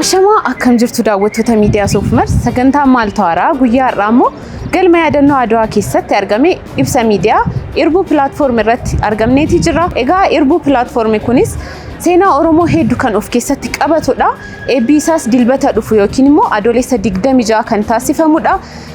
Ashamaa akkam jirtu daawwattoota miidiyaa Soofumar sagantaa maal tawaaraa guyyaa har'aa immoo galma yaadannoo Adwaa keessatti argame ibsa miidiyaa irbuu pilaatfoorm irratti argamneeti jira. Egaa irbuu pilaatfoormi kunis seenaa Oromoo hedduu kan of keessatti qabatudha. Eebbi isaas dilbata dhufu yookiin immoo adoolessa 26 kan taasifamudha.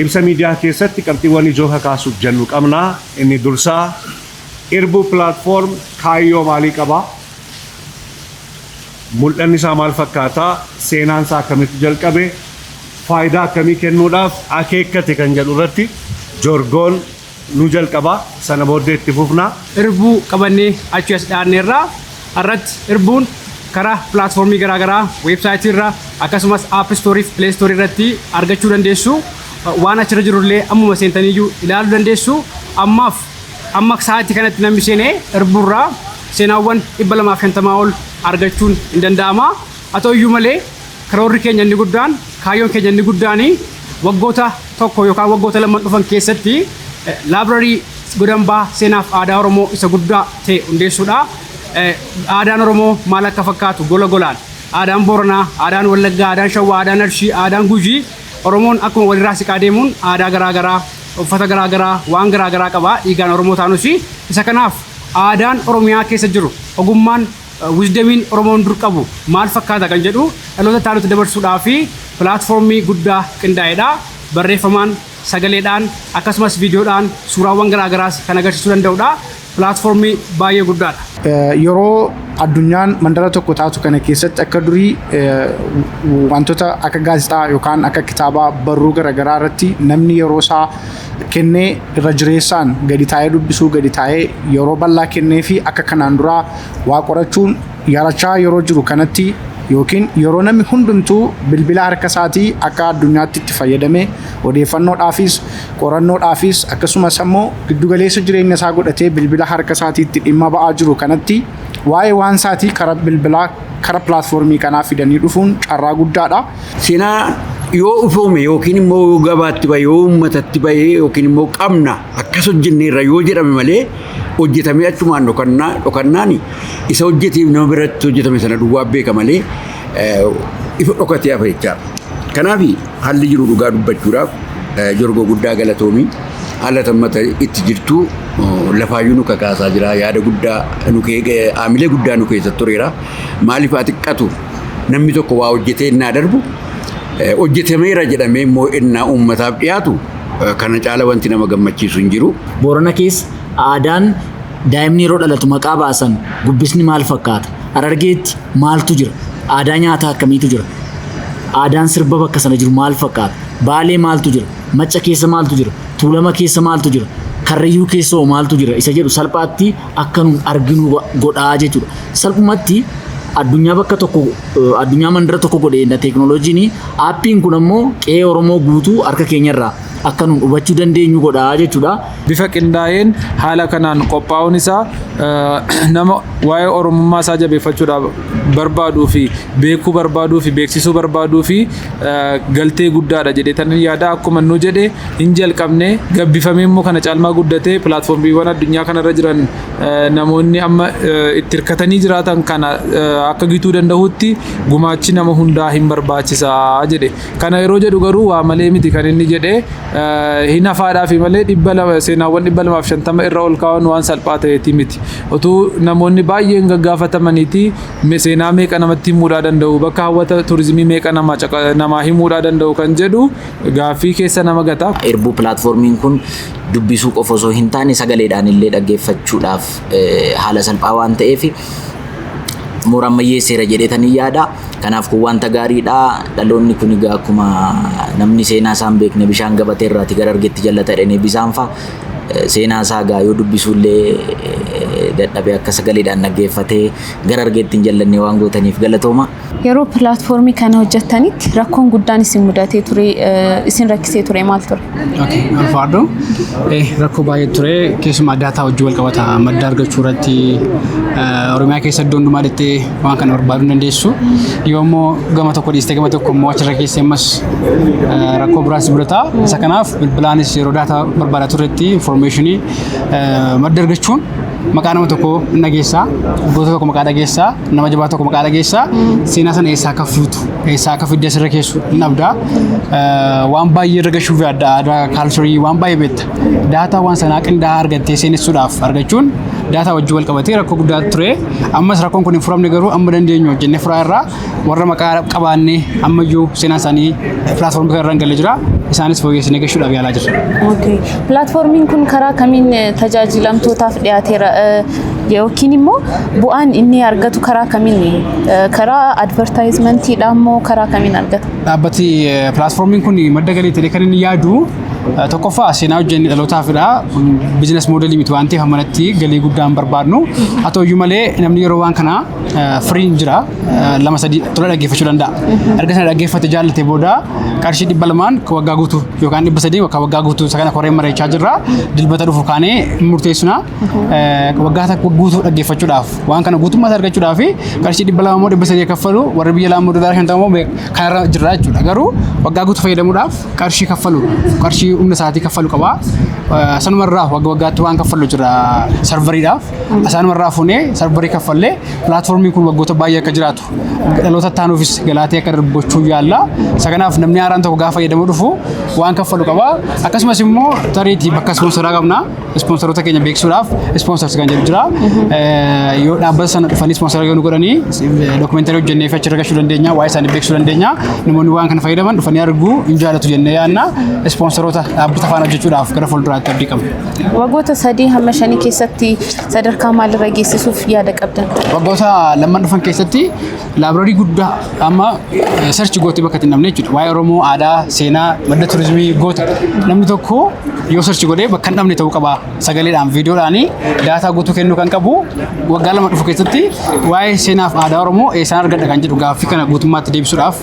Ibsa miidiyaa keessatti qabxiiwwan ijoo kakaasuuf jennu qabna. Inni dursaa, Irbuu Platform kaayyoo maalii qaba? Mul'anni isaa maal fakkaata? Seenaan isaa akkamitti jalqabe? Faayidaa akkamii kennuudhaaf akeekkate kan jedhu irratti Jorgoon nu jalqaba sana booddee itti fufna. Irbuu qabannee achi as dhaanneerra. Har'atti irbuun karaa pilaatfoormii garaagaraa weebsaayitii irra akkasumas app store fi play store irratti argachuu dandeessu. Waan achirra jirullee ammuma seentaniyyuu ilaaluu dandeessu. Ammaaf amma sa'aatii kanatti namni seenee irbuurraa seenaawwan 250 ol argachuun hin danda'ama. Haa ta'u iyyuu malee, karoorri keenya inni guddaan, kaayyoon keenya inni guddaan waggoota tokko yookaan waggoota lamman dhufan keessatti laabrarii godambaa seenaaf aadaa Oromoo isa guddaa ta'e hundeessuudha. Aadaan Oromoo maal akka fakkaatu gola golaan aadaan Booranaa, aadaan Wallaggaa, aadaan Shawwaa, aadaan Arshii, aadaan Gujii Oromoon akkuma walirraa siqaa deemuun aadaa garaa garaa, uffata garaa garaa, waan garaa garaa qaba. Dhiigaan Oromoo taanus isa kanaaf aadaan Oromiyaa keessa jiru ogummaan Wisdemiin Oromoon dur qabu maal fakkaata kan jedhu dhaloota itti aanutti dabarsuudhaaf pilaatfoormii guddaa qindaa'edha. Barreeffamaan, sagaleedhaan, akkasumas viidiyoodhaan suuraawwan garaa garaas kan agarsiisuu danda'udha. Pilaatfoormii baay'ee guddaadha. Yeroo addunyaan mandara tokko taatu kana keessatti akka durii wantoota akka gaazexaa yookaan akka kitaabaa barruu garaagaraa irratti namni yeroo isaa kennee irra jireessaan gadi taa'ee dubbisuu gadi taa'ee yeroo bal'aa kennee fi akka kanaan duraa waa qorachuun yarachaa yeroo jiru kanatti yookiin yeroo namni hundumtuu bilbila harka isaatii akka addunyaatti itti fayyadamee odeeffannoodhaafis qorannoodhaafis akkasumas ammoo giddugaleessa jireenya isaa godhatee bilbila harka isaatii itti dhimma ba'aa jiru kanatti waa'ee waan isaatii karaa bilbilaa karaa pilaatfoormii kanaa fidanii dhufuun carraa guddaadha. Seenaa yoo ufoome yookiin immoo yoo gabaatti bahe yoo uummatatti bahe yookiin immoo qabna akkas hojjenneerra yoo jedhame malee hojjetamee achumaan dhokannaa dhokannaan isa hojjeteef nama biratti hojjetame sana duwwaa beeka malee eh, ifa dhokatee hafa jechaadha. Kanaaf haalli jiru dhugaa dubbachuudhaaf eh, jorgoo guddaa galatoomii haala tammata itti jirtu oh, lafaayyuu nu kakaasaa jira yaada guddaa nu kee- eh, haamilee guddaa nu keessa tureera maaliif haa xiqqatu namni tokko waa hojjetee innaa darbu hojjetameera jedhamee immoo innaa uummataaf dhiyaatu kana caala wanti nama gammachiisu hin jiru. Boorana keessa aadaan daa'imni yeroo dhalatu maqaa baasan gubbisni maal fakkaata? Harargeetti maaltu jira? Aadaa nyaataa akkamiitu jira? Aadaan sirba bakka sana jiru maal fakkaata? Baalee maaltu jira? Macca keessa maaltu jira? Tuulama keessa maaltu jira? Karrayyuu keessa hoo maaltu jira? Isa jedhu salphaatti akka nuun arginu godha jechuudha. Salphumatti addunyaa bakka tokko addunyaa mandara tokko godheedha teeknooloojiin aappiin kun ammoo qe'ee Oromoo guutuu harka keenyarraa akka nuun hubachuu dandeenyu godha jechuudha. Bifa qindaa'een haala kanaan qophaa'uun isaa nama waa'ee Oromummaa isaa jabeeffachuudhaaf barbaaduu fi beekuu barbaaduu fi beeksisuu barbaaduu fi galtee guddaadha jedhee tan yaada akkuma nu jedhe hin jalqabne gabbifamee immoo kana caalmaa guddatee pilaatfoormiiwwan addunyaa kanarra jiran namoonni amma itti hirkatanii jiraatan kana akka gituu danda'utti gumaachi nama hundaa hin barbaachisa jedhe. Kana yeroo jedhu garuu waa malee miti kan inni jedhe hin hafaadhaafi malee dhibba lama seenaawwan dhibba lamaaf shantama irra ol kaa'uun waan salphaa ta'eeti miti. Utuu namoonni baay'een gaggaafatamaniiti seenaa meeqa namatti himuudhaa danda'u bakka hawwata turizimii meeqa namaa himuudhaa danda'u kan jedhu gaaffii keessa nama gata. Irbuu pilaatfoormiin kun dubbisuu qofa osoo hin taane sagaleedhaan illee dhaggeeffachuudhaaf eh, haala salphaa waan ta'eef moora ammayyeesseera jedheetan hin yaada. Kanaaf kun wanta gaariidha. Dhaloonni kun egaa akkuma namni seenaa isaa hin beekne bishaan gabatee irraati gara argetti jallata jedhanii bisaan fa'a. Eh, Seenaa isaa egaa yoo dubbisuullee eh, dadhabee akka sagaleedhaan dhaggeeffatee gara argetti hin jallanne waan gootaniif galatooma. Yeroo pilaatfoormii kana hojjettanitti rakkoon guddaan isin mudatee ture isin rakkisee ture maal ture? Okay, ulfaadhu. Eh, rakkoo baay'ee ture. Keessumaa daataa wajjin wal qabata. Madda argachuu irratti eh, Oromiyaa keessa iddoo hundumaa dettee waan kana barbaaduu hin dandeessu. Yoo immoo gama tokko dhiistee gama tokko immoo achirra keessa ammas eh, rakkoo biraas mudata. Isa kanaaf bilbilaanis yeroo daataa barbaadaa turretti informationii eh, madda argachuun Maqaa nama tokko hin dhageessaa, goota tokko maqaa dhageessaa, nama jabaa tokko maqaa dhageessaa, seenaa sana eessaa akka fuutu, eessaa akka fidde asirra keessu hin dhabda. Eh, Waan baay'ee irra gashuuf yaadda aadaa kaalcharii waan baay'ee beekta. Daataa waan sanaa qindaa'aa argattee seenessuudhaaf argachuun daataa wajjin wal qabatee rakkoo guddaa ture. Ammas rakkoon kun hin furamne garuu amma dandeenyu hojjennee furaa irraa warra maqaa qabaanne ammayyuu seenaa isaanii pilaatfoormii kana irra hin galle jira. Isaanis fooyyessinee gashuudhaaf yaalaa jirra. Okay. Pilaatfoormiin kun karaa kamiin eh, tajaajilamtootaaf dhiyaateera eh, yookiin immoo bu'aan inni argatu karaa kamiin eh, karaa advertaayizimantiidhaan immoo karaa kamiin argata? Dhaabbati eh, pilaatfoormiin kun madda galii ta'ee kan inni yaadu eh, tokkoffaa seenaa hojjennee dhalootaafidha. Bizinas moodelii miti waan ta'eef manatti galii guddaa hin barbaadnu. Haa ta'uyyuu malee namni yeroo waan kana firiin jira lama sadii tola dhaggeeffachuu danda'a. Erga sana dhaggeeffate jaallate booda qarshii dhibba lamaan waggaa guutuu yookaan dhibba sadii waggaa waggaa guutuu isa kana koreen mari'achaa jirra dilbata dhufu kaanee murteessina waggaa takka guutuu dhaggeeffachuudhaaf waan kana guutummaas argachuudhaaf qarshii dhibba lama immoo dhibba sadii kaffalu warri biyya laamoo doolaara shan ta'uu kanarra jirra jechuudha garuu waggaa guutuu fayyadamuudhaaf qarshii kaffalu qarshii humna isaatii kaffalu qaba sanumarraa wagga waggaatti waan kaffalu jira sarvariidhaaf Asaanuma irraa funee sarbarii kaffallee pilaatfoormiin kun waggoota baay'ee akka jiraatu dhaloota taanuufis galaatee akka darbu gochuu yaalla. Isa kanaaf namni haaraan tokko gaafa fayyadamu dhufu waan kaffalu qaba. Akkasumas immoo tariitii bakka ispoonsaraa qabna. Ispoonsaroota keenya beeksisuudhaaf ispoonsarsi kan jedhu jira. Yoo dhaabbata sana dhufanii ispoonsara yoo nu godhanii dookumeentarii hojjennee fi achirra gahuu dandeenya. Waa'ee isaanii beeksisuu dandeenya. Namoonni waan kana fayyadaman dhufanii arguu hin jaalatu jennee yaadna. Ispoonsaroota dhaabbata faana hojjechuudhaaf gara fuulduraatti abdii qabna. Wagoota sadii hamma shanii keessatti sadarkaa maalirra geessisuuf yaada qabdan? Waggoota lamman dhufan keessatti laabraarii guddaa amma sarchi gootee bakka itti hin dhabne jechuudha. Waa'ee Oromoo aadaa, seenaa, madda turizimii goota. Namni tokko yoo sarchi godhee bakka hin dhabne ta'uu qaba. Sagaleedhaan, viidiyoodhaan daataa guutuu kennuu kan qabu waggaa lama dhufu keessatti waa'ee seenaaf aadaa Oromoo eessaan argadha kan jedhu gaaffii kana guutummaatti deebisuudhaaf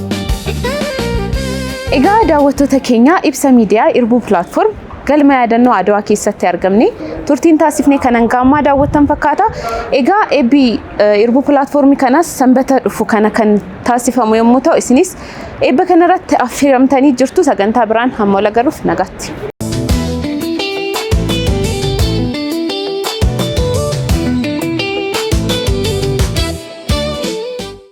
Egaa daawwattoota keenya ibsa miidiyaa Irbuu Platform galma yaadannoo Adawaa keessatti argamne turtiin taasifne kan hanga ammaa daawwattan fakkaata. Egaa eebbi eh, Irbuu Platform kanas sanbata dhufu kana kan taasifamu yommuu ta'u isinis eebba kanarratti affeeramtanii jirtu sagantaa biraan hamma wal agaruuf nagaatti.